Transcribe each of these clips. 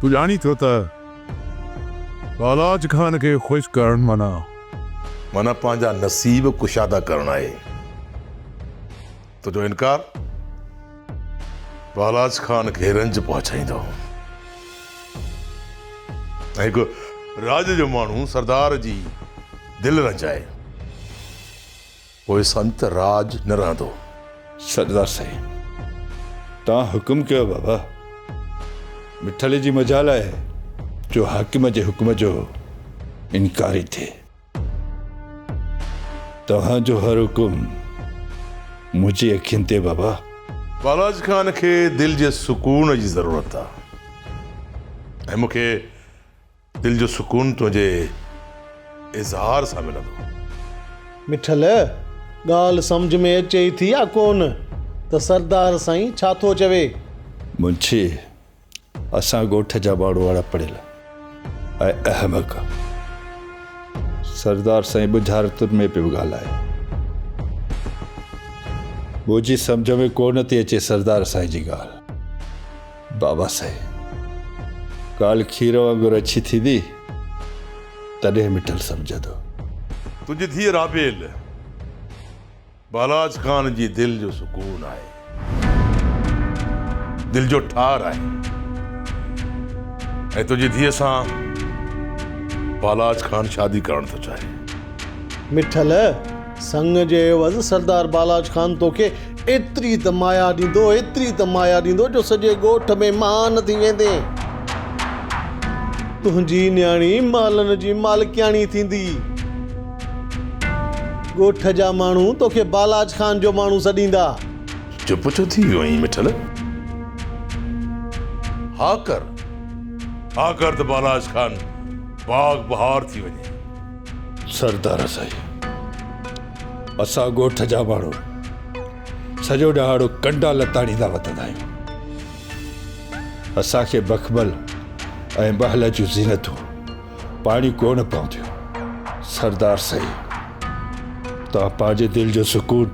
تون ڄاڻين ٿو ته بالاچ خان کي خوش ڪرڻ معنيٰ. معنيٰ پنهنجا نصيب ڪشادا ڪرڻ آهي. تنهنجو انڪار بالاچ خان کي رنج پهچائيندو. ۽ هڪ راڄ جو ماڻهو سردار جي دل رنج آهي. پوء سنت راڄ نه رهندو. سردار سائين توهان حڪم ڪيو بابا. مٺلي جي مجال آهي جو حاڪم جي حڪم جو انڪاري ٿئي. توهان جو هر حڪم منهنجي اکين تي بابا. بالاچ خان کي دل جي سڪون جي ضرورت آ ۽ مون کي دل جو سڪون تنهنجي اظهار سان ملندو. مٺل، ڳالهه سمجهه ۾ اچي ئي ٿي يا ڪونه ته سردار سائين ڇا ٿو چوي؟ منشي، اسان ڳوٺ جا ماڻهو اڻ پڙهيل ۽ احمق سردار سائين ٻجهارتن ۾ پيو ڳالهائي. منهنجي سمجهه ۾ ڪونه ٿي اچي سردار سائين جي ڳالهه. بابا سائين ڳالهه کير وانگر اڇي ٿيندي تڏهن مٺل سمجهندو. تنهنجي ڌيء رابيل بالاچ خان جي دل جو سڪون آهي. دل جو ٺار آهي. ۽ تنهنجي ڌيء سان بالاچ خان شادي ڪرڻ ٿو چاهي. مٺل! سڱ جي عيوض سردار بالاچ خان توکي ايتري ته مايا ڏيندو، ايتري ته مايا ڏيندو جو سڄي ڳوٺ ۾ مهان ٿي ويندين. تنهنجي نياڻي محلن جي مالڪياڻي ٿيندي. ڳوٺ جا ماڻهو توکي بالاچ خان جو ماڻهو سڏيندا. چپ ڇو ٿي ويو آهين مٺل؟ ها ڪر، ها ڪر ته بالاچ خان باغ بهار ٿي وڃي. سردار سائين اسان ڳوٺ جا ماڻهو سڄو ڏهاڙو ڪنڊا لتاڙيندا وتندا آهيون اسان کي بخبل ۽ بهل جون زينتون پاڻي ڪونه پونديون سردار سائين توهان پنهنجي دل جو سڪون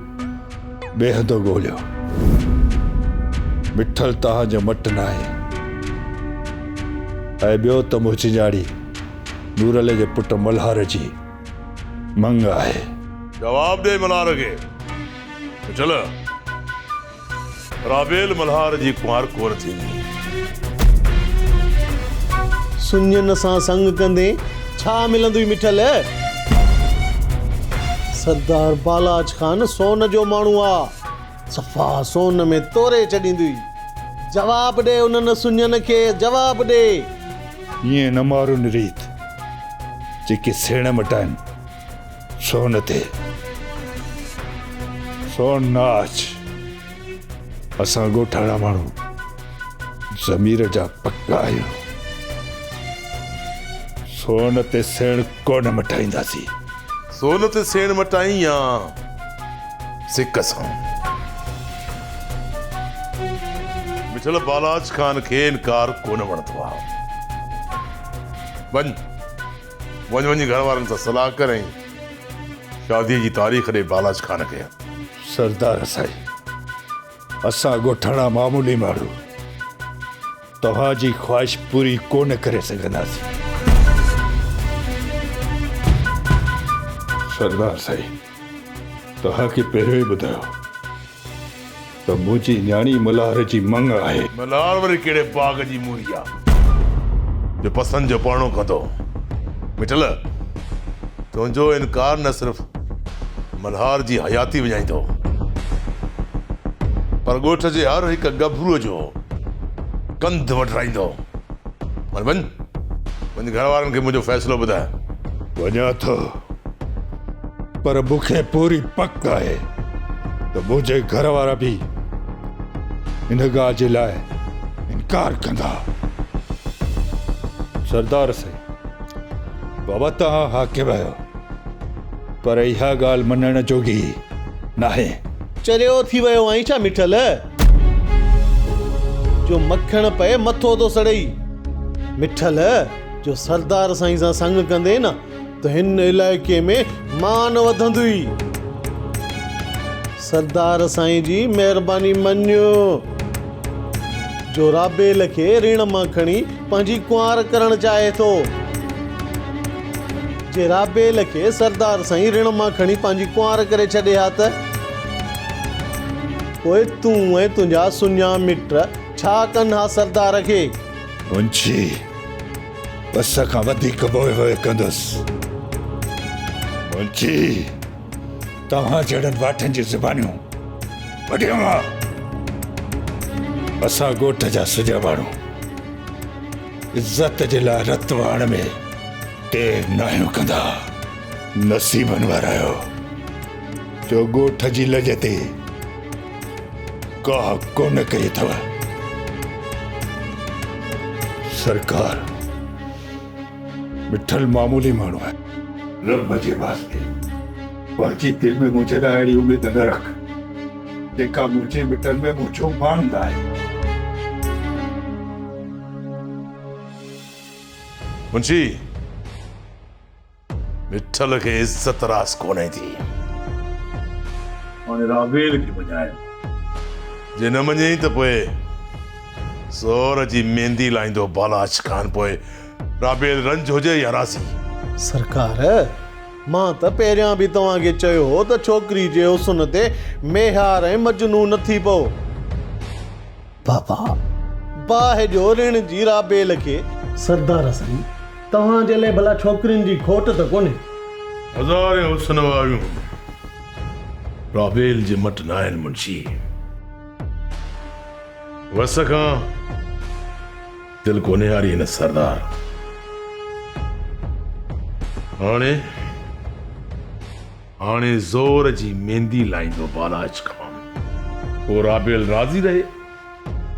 ٻئي هنڌو ڳوليو مٺل توهان جو مٽ نه آهي ۽ ٻيو ته مون چنجاڙي نورالله جي پٽ ملهار جي مڱ آهي. جواب ڏي ملهار کي ته چل رابيل ملهار جي ڪنوار ڪور ٿيندي. سڃن سان سڱ ڪندين ڇا ملندوئي مٺل. سردار بالاچ خان سون جو ماڻهو آ. صفا سون ۾ توري ڇڏيندي. جواب ڏي انهن سڃن کي جواب ڏي. ائين نه مارن ريت جيڪي سيڻ مٽائن سون تي سون نه آڇ اسان ڳوٺاڻا ماڻهو ضمير جا پڪا آهيون سون تي سيڻ ڪونه مٽائينداسين. سون تي سيڻ مٽائين يا سڪ سان. مٺل بالاچ خان کي انڪار ڪونه وڻندو آهي. وڃ وڃ وڃي گهر وارن سان صلاح ڪر ۽ شاديء جي تاريخ ڏي بالاچ خان کي. سردار سائين اسان ڳوٺاڻا معمولي ماڻهو. توهان جي خواهش پوري ڪونه ڪري سگهنداسين. سردار سائين توهان کي پهريون ئي ٻڌايو ته منهنجي نياڻي ملهار جي مڱ آهي. ملهار وري ڪهڙي باغ جي موري آ جو پسند جو پرڻو ڪندو. مٺل تنهنجو انڪار نه صرف ملهار جي حياتي وڃائيندو پر ڳوٺ جي هر هڪ ڳڀرو جو ڪنڌ وڍرائيندو هل وڃ وڃ گهر وارن کي منهنجو فيصلو ٻڌاء. وڃان ٿو پر مون کي پوري پڪ آهي ته منهنجي گهر وارا به ان ڳالهه جي لاء انڪار ڪندا. سردار سائين بابا توهان حاڪم آهيو پر اها ڳالهه مڃڻ جوڳي ناهي. چريو ٿي ويو آهين ڇا مٺل؟ جو مکڻ پئي مٿو ٿو سڙئي. مٺل جو سردار سائين سان سڱ ڪندي نه ته هن علائقي ۾ مان وڌندي. سردار سائين جي مهرباني مڃ جو رابيل کي ريڻ مان کڻي پنهنجي ڪنوار ڪرڻ چاهي ٿو. جي رابيل کي سردار سائين ريڻ مان کڻي پنهنجي ڪنوار ڪري ڇڏي ها ته. پوء تون ۽ تنهنجا سڃا مٽ ڇا ڪن ها سردار کي؟ منشي، پس کان وڌيڪ موهه هوء ڪندس. منشي، توهان جهڙن واٺن جون زبانيون وڍيو ها. اسان ڳوٺ جا سڄا ماڻهو عزت جي لاء رت وهڻ ۾ دير ناهيون ڪندا. نصيبن وارا آهيو. تو ڳوٺ جي لڄ تي ڪاهه ڪونه ڪئي اٿو. سرڪار مٺل معمولي ماڻهو آهي. رب جي واسطي پنهنجي دل ۾ منهنجي لاء اهڙي اميد نه رک، جيڪا منهنجي مٽن ۾ منهنجو مان لاهي. منشي! ڏٺل کي عزت راس ڪونهي ٿي. هاڻي رابيل کي مڃايو. جي نه مڃيئي ته پوء زور جي ميندي لائيندو بالاچ خان پوء رابيل رنج هجي يا راضي. سرڪار! مان ته پهريان به توهان کي چيو هو ته ڇوڪري جي حسن تي ميهار ۽ مجنون نه ٿي پئو. بابا! باهه جو رڻ جي رابيل کي. سردار سائين! توهان جي لئه ڀلا ڇوڪرين جي کوٽ ته ڪونهي؟ هزارين حسن واريون رابيل جي مٽ ناهن منشي! وس کان دل ڪونهي هاري هن سردار! هاڻي. هاڻي زور جي ميندي لائيندو بالاچ خان. پوء رابيل راضي رهي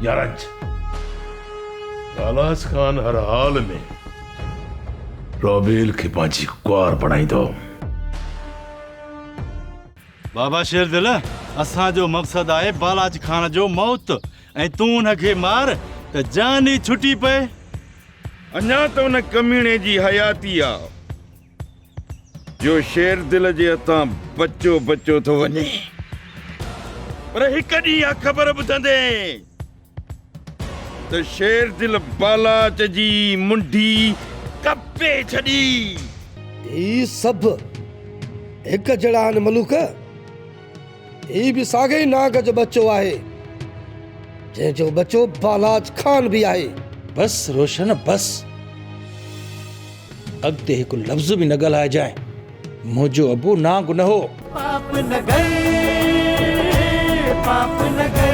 يا رنج. بالاچ خان هر حال ۾ رابيل کي پنهنجي ڪنوار بڻائيندو. بابا شيردل اسان جو مقصد آهي بالاچ خان جو موت ۽ تون ان کي مار ته جان ئي ڇٽي پئي. اڃا ته ان ڪميڻي جي حياتي آ. جو شير دل جي هٿان بچو بچو ٿو وڃي پر هڪ ڏينهن اها خبر ٻڌندي ته شير دل بالاچ جي منڍي ڪپي ڇڏي. هي سڀ هڪ جهڙا آهن ملوڪ. هي به ساڳئي ئي ناگ جو ٻچو آهي، جنهن جو ٻچو بالاچ خان به آهي. بس روشن بس. اڳتي هڪ لفظ به نه ڳالهائجانء. منهنجو ابو نانگ نه هو. پاپ نگر پاپ نگر.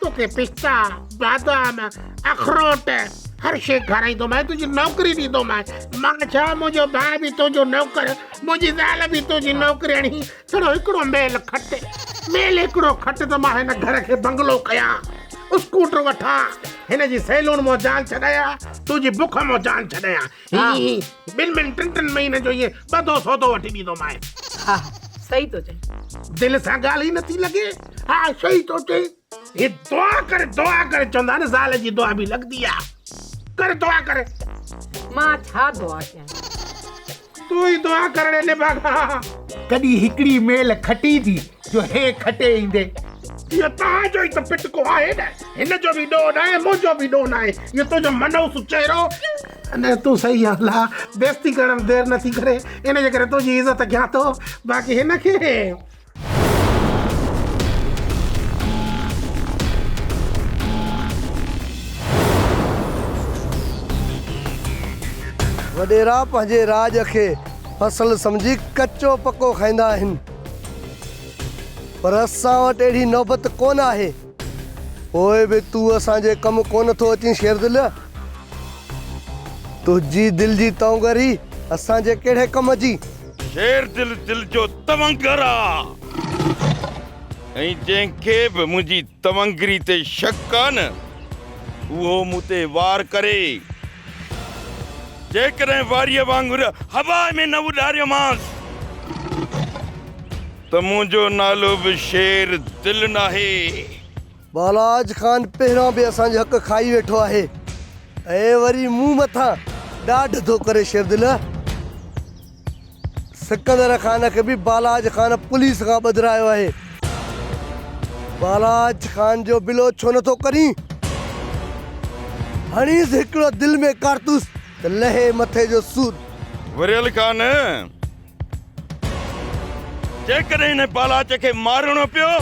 توکي پستا، بادام، اخروٽ هر شيء کارائيندومانء، تنهنجي نوڪري ڏيندومانء. مان ڇا، منهنجو ڀاء به تنهنجو نوڪر، منهنجي زال به تنهنجي نوڪرياڻي. ڇڙو هڪڙو ميل کٽ، ميل هڪڙو کٽ ته مان هن گهر کي بنگلو ڪيان، اسڪوٽر وٺان، هن جي سيلون مان جان ڇڏايان، تنهنجي بک مان جان ڇڏايان. ها ٻن ٻن ٽن ٽن مهينن جو ائين ٻڌو سودو وٺي ڏيندومانء. ها صحيح ٿو چئين. دل سان ڳالهه ئي نٿي لڳي. ها صحيح ٿو چئين. هي دعا ڪر دعا ڪر چوندا آهن زال جي دعا به لڳندي آ. ڪر دعا ڪر. مان ڇا دعا ڪيان. تون ئي دعا ڪر نڀاڳا. ڪڏهن هڪڙي ميل کٽي ٿي جو هي کٽي ايندي. اهو توهان جو ئي ته پٽڪو آهي نه. هن جو به ڏوهه ناهي، منهنجو به ڏوهه ناهي. اهو تنهنجو منحوس چهرو. نه تون صحيح آهين الله. بيعزتي ڪرڻ ۾ دير نٿي ڪري. ان جي ڪري تنهنجي عزت ڪيان ٿو. باقي هن کي. وڏيرا پنهنجي راڄ کي فصل سمجهي ڪچو پڪو کائيندا آهن. پر اسان وٽ اهڙي نوبت ڪونه آهي. پوء به تون اسان جي ڪم ڪونه ٿو اچين شيردل! تنهنجي دل جي تونگر ئي اسان جي ڪهڙي ڪم جي؟ شيردل دل جو تونگر آ ۽ جنهن کي به منهنجي تونگري تي شڪ آ نه اهو مون تي وار ڪري. جيڪڏهن واريء وانگر هوا ۾ نه اڏاريومانس ته منهنجو نالو به شير دل ناهي. بالاچ خان پهريان به اسان جو حق کائي ويٺو آهي ۽ وري مون مٿان ڏاڍ ٿو ڪري شيردل. سڪندر خان کي به بالاچ خان پوليس کان ٻڌرايو آهي. بالاچ خان جو بلو ڇو نه ٿو ڪرين؟ هڻيس هڪڙو دل ۾ ڪارتوس ته لهي مٿي جو سور. وريل خان، جيڪڏهن هن بالاچ کي مارڻو پيو.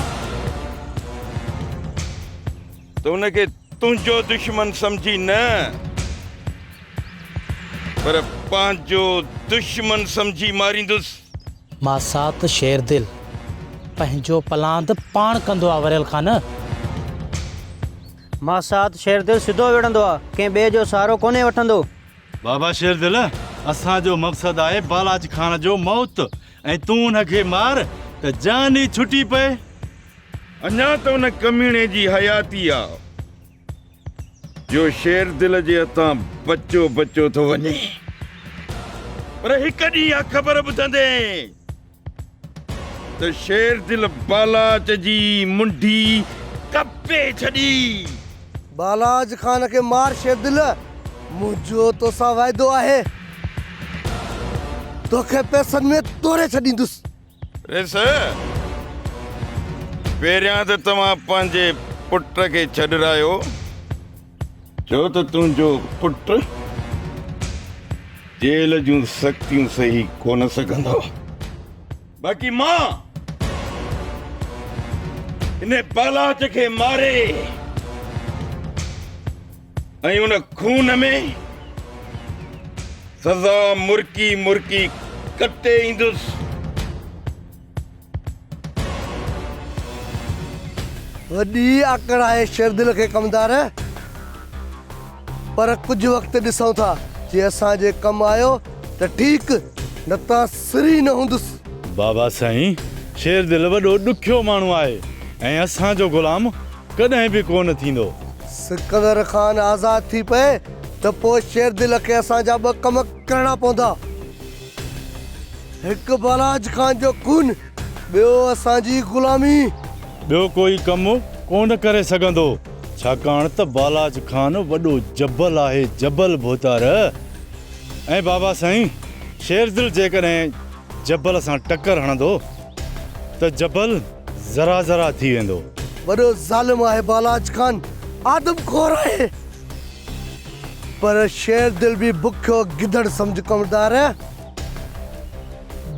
ته ان کي تنهنجو دشمن سمجهي نه پر پنهنجو دشمن سمجهي ماريندس. ماسات شيردل پنهنجو پلان ته پاڻ ڪندو آ وريل خان. ماسات شيردل سڌو وڙهندو آ ڪنهن ٻئي جو سهارو ڪونهي وٺندو. بابا شيردل اسان جو مقصد آهي بالاچ خان جو موت ۽ تون ان کي مار ته جان ئي ڇٽي پئي. اڃا ته ان ڪميڻي جي حياتي آ جو شير دل جي هٿان بچو بچو ٿو وڃي پر هڪ ڏينهن اها خبر ٻڌندي ته شير دل بالاچ جي منڍي ڪپي ڇڏي. بالاچ خان کي مار شير دل منهنجو توسان وعدو آهي توکي پئسن ۾ توري ڇڏيندس. ريس، پهريان ته توهان پنهنجي پٽ کي ڇڏرايو، ڇو ته تنهنجو پٽ جيل جون سختيون سهي ڪونه سگهندو، باقي مان هن پالاچ کي ماري. ۽ ان خون ۾ سزا مرڪي مرڪي ڪٽي ايندس وڏي آڪڙ آهي شيردل کي ڪمدار پر ڪجهه وقت ڏسون ٿا جي اسان جي ڪم آيو ته ٺيڪ نه ته سري نه هوندس بابا سائين شيردل وڏو ڏکيو ماڻهو آهي ۽ اسان جو غلام ڪڏهن به ڪونه ٿيندو. سڪندر خان آزاد ٿي پئي ته پوء شيردل کي اسان جا ٻه ڪم ڪرڻا پوندا. هڪ بالاچ خان جو خون، ٻيو اسان جي غلامي. ٻيو ڪوئي ڪم ڪونه ڪري سگهندو، ڇاڪاڻ ته بالاچ خان وڏو جبل آهي، جبل ڀوتار. ۽ بابا سائين، شيردل جيڪڏهن جبل سان ٽڪر هڻندو. ته جبل ذرا ذرا ٿي ويندو. وڏو ظالم آهي بالاچ خان آدم خور آهي پر شير دل به بکيو گدڙ سمجهه ڪمردار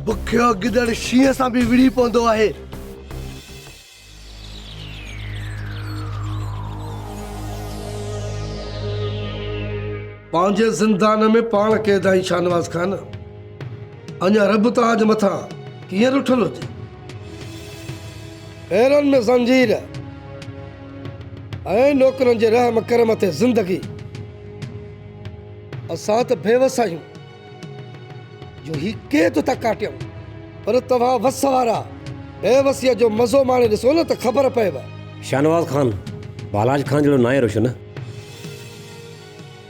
بکيو گدڙ شينهن سان به وڙهي پوندو آهي. پنهنجي زندان ۾ پاڻ قيد آهين شاهنواز خان. اڃا رب تاج مٿان ڪيئن رٺل هجي. پيرن ۾ زنجير ۽ نوڪرن جي رحم ڪرم تي زندگي. اسان ته بيوس آهيون. جو هي ڪير ٿو ٿا ڪاٽيون پر توهان وس وارا بي وسيء جو مزو ماڻي ڏسو نه ته خبر پئيو. شاهنواز خان ڀالاج خان جهڙو ناهي روشن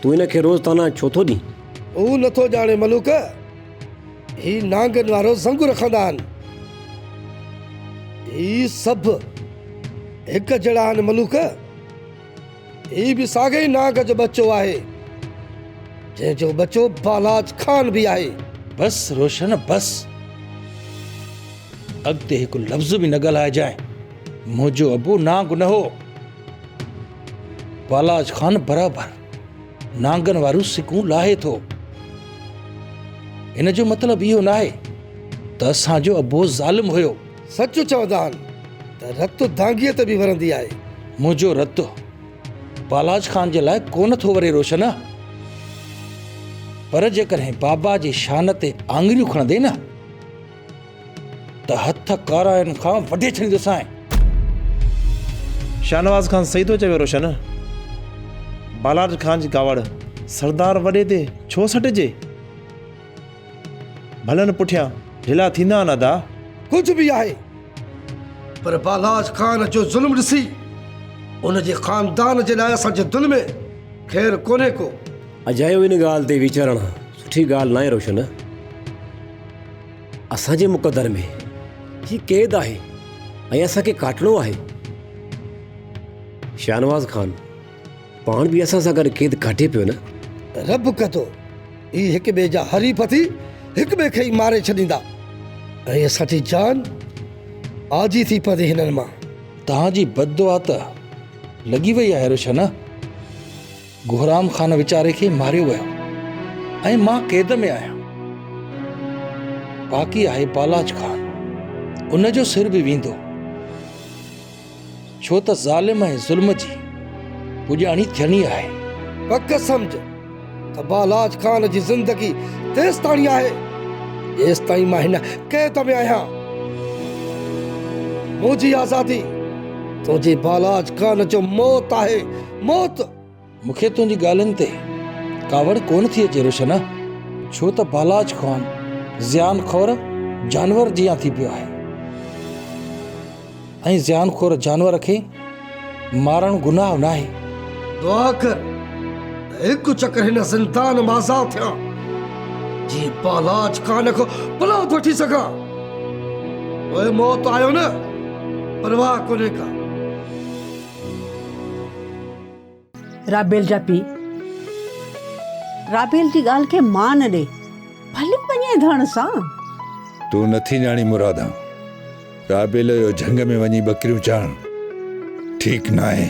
تون هن کي روز طعنا ڇو ٿو ڏين. هو نه ٿو ڄاڻي ملوڪ هي نانگن وارو زنگ رکندا آهن هي سڀ هڪ جهڙا آهن ملوڪ. هي به ساڳئي ئي ناگ جو ٻچو آهي، جنهن جو ٻچو بالاچ خان به آهي. بس روشن بس. اڳتي هڪ لفظ به نه ڳالهائجانء. منهنجو ابو نانگ نه هو. بالاچ خان برابر نانگن واريون سڪون لاهي ٿو. ان جو مطلب اهو ناهي ته اسان جو ابو ظالم هيو. سچ چوندا آهن ته رت دانگيء تي به ورندي آهي. منهنجو رت بالاچ خان جي لاء ڪونه ٿو وري روشن، پر جيڪڏهن بابا جي شان تي آڱريون کڻندين نه ته هٿ ڪارائن کان وڍي ڇڏيندوسانء. شاهنواز خان صحيح ٿو چوي روشن، بالاچ خان جي ڪاوڙ سردار وڏي تي ڇو سٽجي؟ ڀلن پٺيان ڍلا ٿيندا آھن ادا. ڪجھ به آھي پر بالاچ خان جو ظلم ڏسي ان جي خاندان جي لاء اسان جي دل ۾ خير ڪونھي ڪو. اجايو ان ڳالھ تي ويچارڻ سٺي ڳالھ ناھي روشن. اسان جي مقدر ۾ ھي قيد آھي ۽ اسان کي ڪاٽڻو آھي. شاھنواز خان پاڻ به اسان سان گڏ قيد ڪاٽي پيو نه. رب ڪندو، اهي هڪ ٻئي جا حريف ٿي هڪ ٻئي کي ئي ماري ڇڏيندا ۽ اسان جي جان آجي ٿي پوندي هنن مان. توهان جي بددعا ته لڳي وئي آهي روشن. گهرام خان ويچاري کي ماريو ويو ۽ مان قيد ۾ آهيان. باقي آهي بالاچ خان، ان جو سر به ويندو. ڇو ته ظالم ۽ ظلم جي پڄاڻي ٿيڻي آهي. پڪ سمجهه ته بالاچ خان جي زندگي تيستاڻي آهي، جيستائين مان هن قيد ۾ آهيان. منهنجي آزادي تنهنجي بالاچ خان جو موت آهي، موت! مون کي تنهنجي ڳالهين تي ڪاوڙ ڪونه ٿي اچي روشن، ڇو ته بالاچ خوان زيان خور جانور جيان ٿي پيو آهي ۽ زيان خور جانور کي مارڻ گناهه ناهي. دعا ڪر ته هڪ چڪر هن زندان مان آزاد ٿيان، جيئن بالاچ خوان کان پلاند وٺي سگهان. پوء موت آيو نه، پرواهه ڪونهي ڪا. رابيل جا پيء رابيل جي ڳالهه کي مان ڏي، ڀلي وڃي ڌڻ سان. تون نٿي ڄاڻين مرادا، رابيل جو جهنگ ۾ وڃي ٻڪريون چارڻ ٺيڪ ناهي.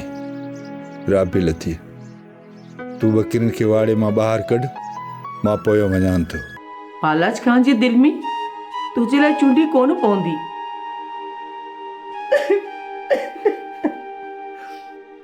رابيل ٿيء، تون ٻڪرين کي واڙي مان ٻاهر ڪڍ، مان پويان وڃان ٿو. پالج خان جي دل ۾ تنهنجي لاء چونڊي ڪونه پوندي.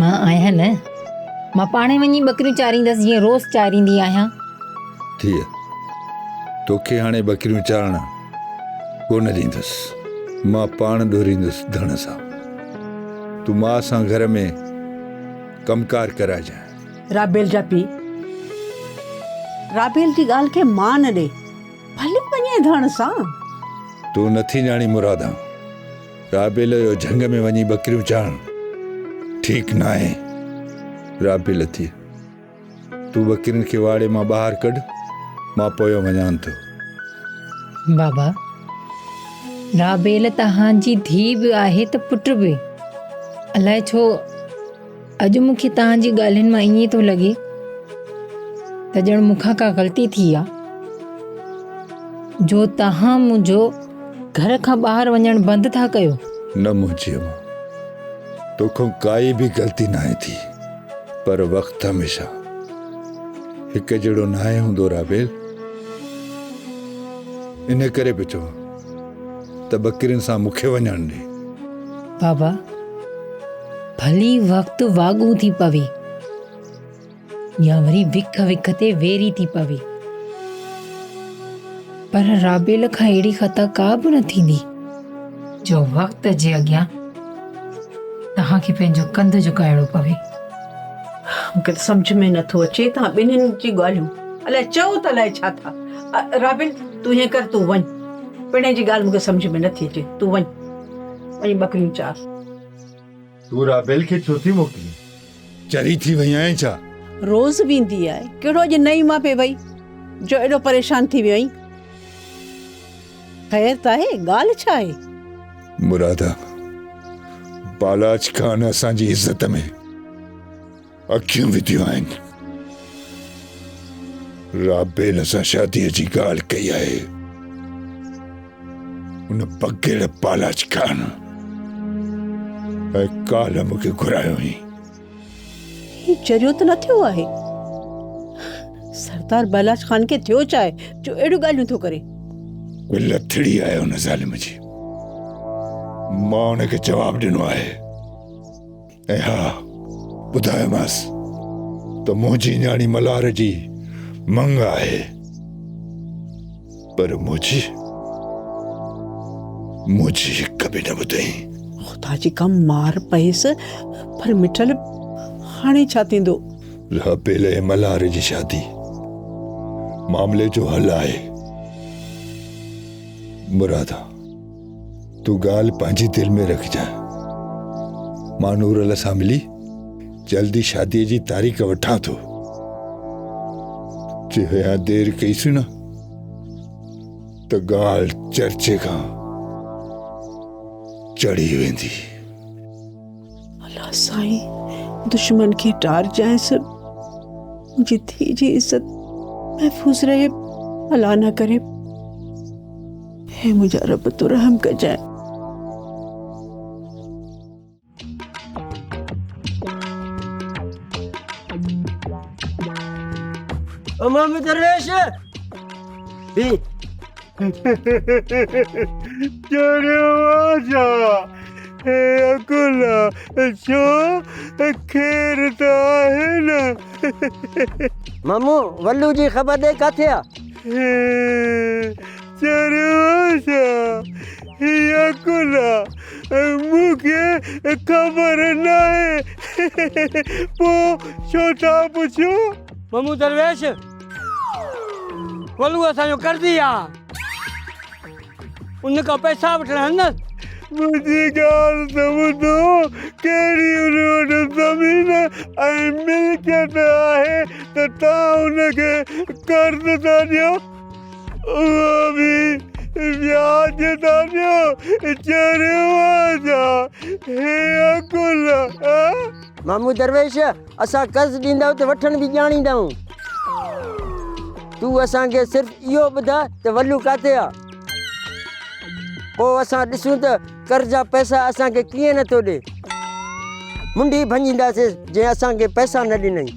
مان آهيان نه، مان پاڻ ئي وڃي ٻڪريون چاريندس جيئن روز چاريندي آهيان. ڌيء، توکي هاڻي ٻڪريون چارڻ ڪونه ڏيندس، مان پاڻ ڏوريندس ڌڻ سان. تون ماء سان گهر ۾ ڪم ڪار ڪرائجانء. رابيل جا پيء، رابيل جي ڳالهه کي مان ڏي، ڀلي وڃي ڌڻ سان. تون نٿي ڄاڻين مرادا! رابيل اهو جهنگ ۾ وڃي ٻڪريون چاڻ ٺيڪ ناهي. رابيل اٿي تون ٻڪرين کي واڙي مان ٻاهر ڪڍ مان پويان وڃان ٿو. بابا رابيل توهان جي ڌيء به آهي ته پٽ به الائي ڇو اڄ مون کي توهان جي ڳالهين مان ائين ٿو لڳي ته ڄڻ مون کان ڪا غلطي ٿي آ جو توهان منهنجو گهر کان ٻاهر وڃڻ بند ٿا ڪيو نه منهنجي اما توکان ڪائي به غلطي ناهي ٿي پر وقت هميشه هڪ جهڙو ناهي هوندو رابيل ان ڪري پيو چوان ته ٻڪرين سان مون کي وڃڻ ڏي. بابا، ڀلي وقت واڳون ٿي پوي يا وري وک وک تي ويري ٿي پوي، پر رابيل کان اهڙي خطا ڪا به نه ٿيندي، جو وقت جي اڳيان توهان کي پنهنجو ڪنڌ جهڪائڻو پوي. مون کي ته سمجهه ۾ نه ٿو اچي توهان ٻنهين جي ڳالهيون. الاء چئو ته الاء ڇا ٿا. رابيل! تون ائين ڪر تون وڃ پڻهين جي ڳالهه مون کي سمجهه ۾ نٿي اچي تون وڃ وڃي ٻڪريون چار. تون رابيل کي ڇو ٿي موڪلين؟ چري ٿي وئي آهين ڇا؟ روز ويندي آهي ڪهڙو اڄ نئين مان پئي وئي جو ايڏو پريشان ٿي ويو آهين؟ خير ته آهي ڳالهه ڇا آهي؟ مراده بالاچ خان اسان جي عزت ۾. اکيون وڌيون آهن. رابيل سان شاديء جي ڳالهه ڪئي آهي. ان بگهڙ پالاچ خان ۽ ڪالهه مون کي گهرايو هئي. هي چريو ته نه ٿيو آهي؟ سردار بالاچ خان کي ٿيو ڇا آهي جو اهڙيون ڳالهيون ٿو ڪري؟ لٿڙي آهي ان ظالم جي. مان ان کي جواب ڏنو آهي. ۽ ها ٻڌايومانس ته منهنجي نياڻي ملهار جي مڱ آهي، پر منهنجي منهنجي هڪ به نه ٻڌئي. خدا جي ڪم مار پيس، پر مٺل هاڻي ڇا ٿيندو؟ رابيل ۽ ملهار جي شادي معاملي جو حل آهي مرادا. تون ڳالهه پنهنجي دل ۾ رکجانء. مان نورل سان ملي جلد ئي شاديء جي تاريخ وٺان ٿو. جي اڃا دير ڪئيسين نه ته ڳالهه چرچي کان چڙهي ويندي. الا سائين دشمن کي ٽارجانئس منهنجي ڌيء جي عزت محفوظ رهي الا نه ڪري. اي منهنجا رب تو رحم ڪجانء. او مامي درويش بي دروازا اي اڪلا ڇو خير ته آهي نه مامو ولو جي خبر ڏي ڪاٿي آ چرواسا، هيء ڪلها مون کي خبر ناهي، پوء ڇو ٿا پڇو؟ ممون درويش، ڪلهو اسان جو قرضي آ، ان کان پئسا وٺڻ هلندس. منهنجي ڳالهه ته ٻڌو، ڪهڙي ان وٽ زمين ۽ ملڪيت آهي ته توهان ان کي قرض ٿا ڏيو؟ مامو درويش اسان قرض ڏيندائون ته وٺڻ به ڄاڻيندائون تون اسان کي صرف اهو ٻڌاء ته ولو ڪاٿي آ پوء اسان ڏسون ته قرض جا پئسا اسان کي ڪيئن نٿو ڏي منڊي ڀڃينداسين جنهن اسان کي پئسا نه ڏنائين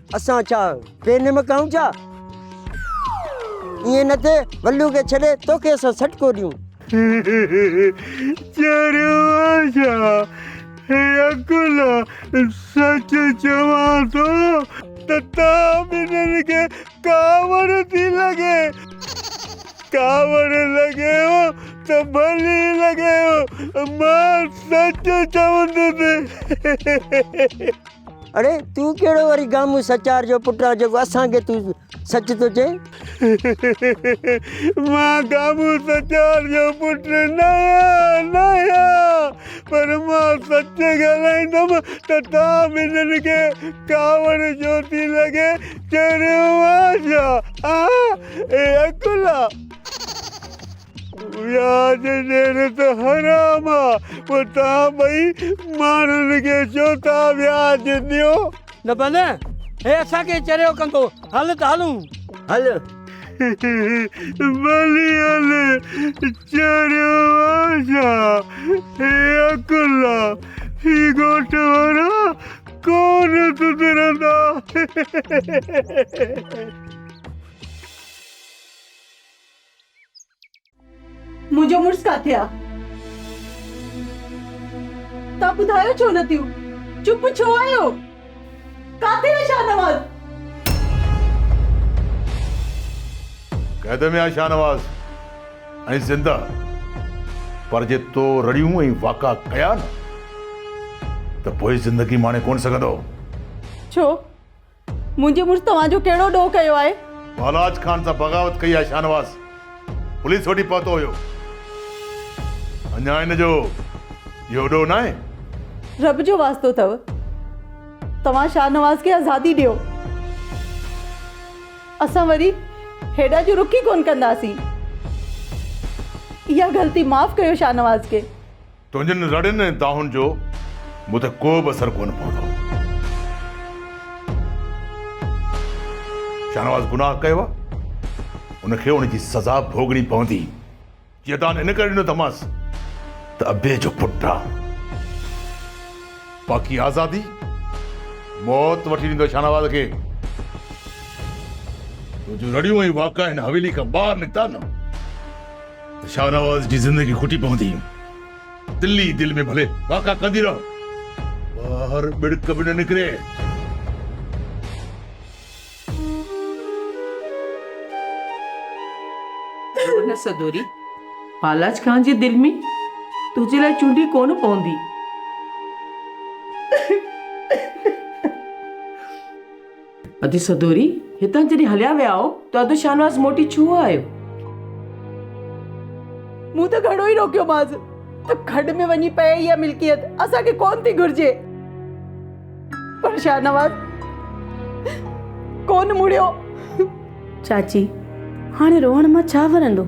اسان ڇا بي نمڪ آهيون ڇا؟ ائين نه ٿئي، ولو کي ڇڏي توکي اسان سٽڪو ڏيون. چريو آهي ڇا؟ هي عقل آ، سچ چوان ٿو ته توهان ٻنهين کي ڪاوڙ ٿي لڳي. ڪاوڙ لڳيو ته ڀلي لڳيو، مان سچ چوندس. اڙي تون ڪهڙو وري گامون سچار جو پٽ آ جيڪو اسان کي تون سچ ٿو چين. مان گامون سچار جو پٽ نه آهيان نه آهيان پر مان سچ ڳالهائيندم ته توهان ٻنهين کي ڪاوڙ جو ٿي لڳي چريو آهيان ڇا؟ اي عقلا! وياج ڏين ته حرام آ پوء توهان ٻئي ماڻهن کي چئو ٿا وياج ڏيو. نه بنهه هي اسان کي چريو ڪندو هل ته هلون. هل. ڀلي هل چريو آ ڇا هي عقل آ هي ڳوٺ وارا ڪون سڌرندا. منهنجو مڙس ڪاٿي آ؟ توهان ٻڌايو ڇو نه ٿيون؟ چپ ڇو آهيو؟ ڪاٿي آ شاهنواز؟ قيد ۾ آ شاهنواز ۽ زنده پر جي تو رڙيون ۽ واڪا ڪيا نه ته پوء زندگي ماڻي ڪونه سگهندو. ڇو؟ منهنجي مڙس توهان جو ڪهڙو ڏوهه ڪيو آهي؟ پهلاج خان سان بغاوت ڪئي آهي شاهنواز پوليس وٽ ئي پهتو هيو. اڃا هن جو اهو ڏوهه ناهي؟ رب جو واسطو اٿئو توهان شاهنواز کي آزادي ڏيو. اسان وري هيڏا جو رخ ئي ڪونه ڪنداسين. اها غلطي معاف ڪيو شاهنواز کي. تنهنجن رڙين ۽ دانهن جو مون تي ڪو به اثر ڪونه پوندو. شاهنواز گناهه ڪيو آهي، ان کي ان جي سزا ڀوڳڻي پوندي. جيئن دانهن ان ڪري ڏنو اٿمانس ته ابي جو پٽ آهي. باقي آزادي، موت وٺي ڏيندو شاهنواز کي. تنهنجون رڙيون ۽ واڪا هن حويلي کان ٻاهر نڪتا نه. ته شاهنواز جي زندگي کٽي پوندي. دل ئي دل ۾ ڀلي واڪا ڪندي رهو، ٻاهر ٻڙڪ به نه نڪري. ڇو نه سدوري، پالاج خان جي دل ۾ تنهنجي لاء چونڊي ڪونه پوندي. ادو سدوري، هتان جڏهن هليا ويائو ته ادو شاهنواز موٽي ڇو آيو؟ مون ته گهڻو ئي روڪيومانس ته کڏ ۾ وڃي پئي اها ملڪيت اسان کي ڪونه ٿي گهرجي. پر شاهنواز ڪونه مڙيو. چاچي، هاڻي روئڻ مان ڇا ورندو؟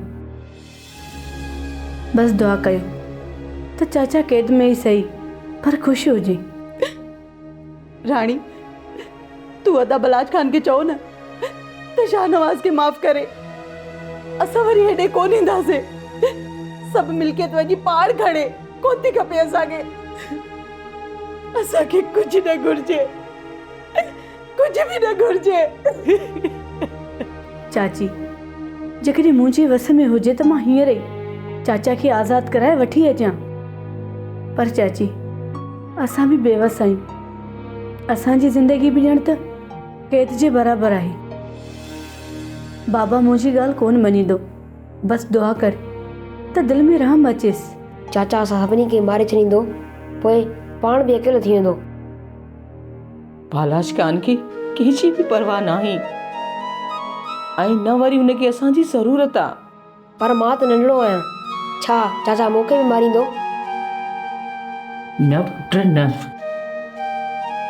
بس دعا ڪيو ته چاچا قيد ۾ ئي سهي پر خوش هجي. راڻي تون ادا بلاچ خان کي چئو نه ته شاهنواز کي معاف ڪري اسان وري هيڏي ڪونه اينداسين سڀ ملڪيت وڃي پاڻ کڻي ڪوتي کپي اسان کي اسان کي ڪجهه نه گهرجي ڪجهه به نه گهرجي. چاچي، جيڪڏهن منهنجي وس ۾ هجي ته مان هينئر ئي چاچا کي آزاد ڪرائي وٺي اچان. پر چاچي، اسان به بيوس آهيون. اسان جي زندگي به ڄڻ ته قيد جي برابر آهي. بابا منهنجي ڳالهه ڪونه مڃيندو. بس دعا ڪر ته دل ۾ رحم اچيس. چاچا اسان سڀني کي ماري ڇڏيندو. پوء پاڻ به اڪيلو ٿي ويندو. پالاش خان کي ڪنهن جي به پرواهه ناهي ۽ نه وري هن کي اسان جي ضرورت آ. پر مان ته ننڍڙو آهيان. ڇا چاچا مون کي به ماريندو؟ نه پٽ نه.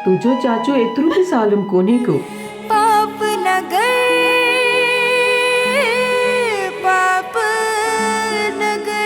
تنهنجو چاچو ايترو به ظالم ڪونهي ڪو. پاپ نه ڪر پاپ نه ڪر.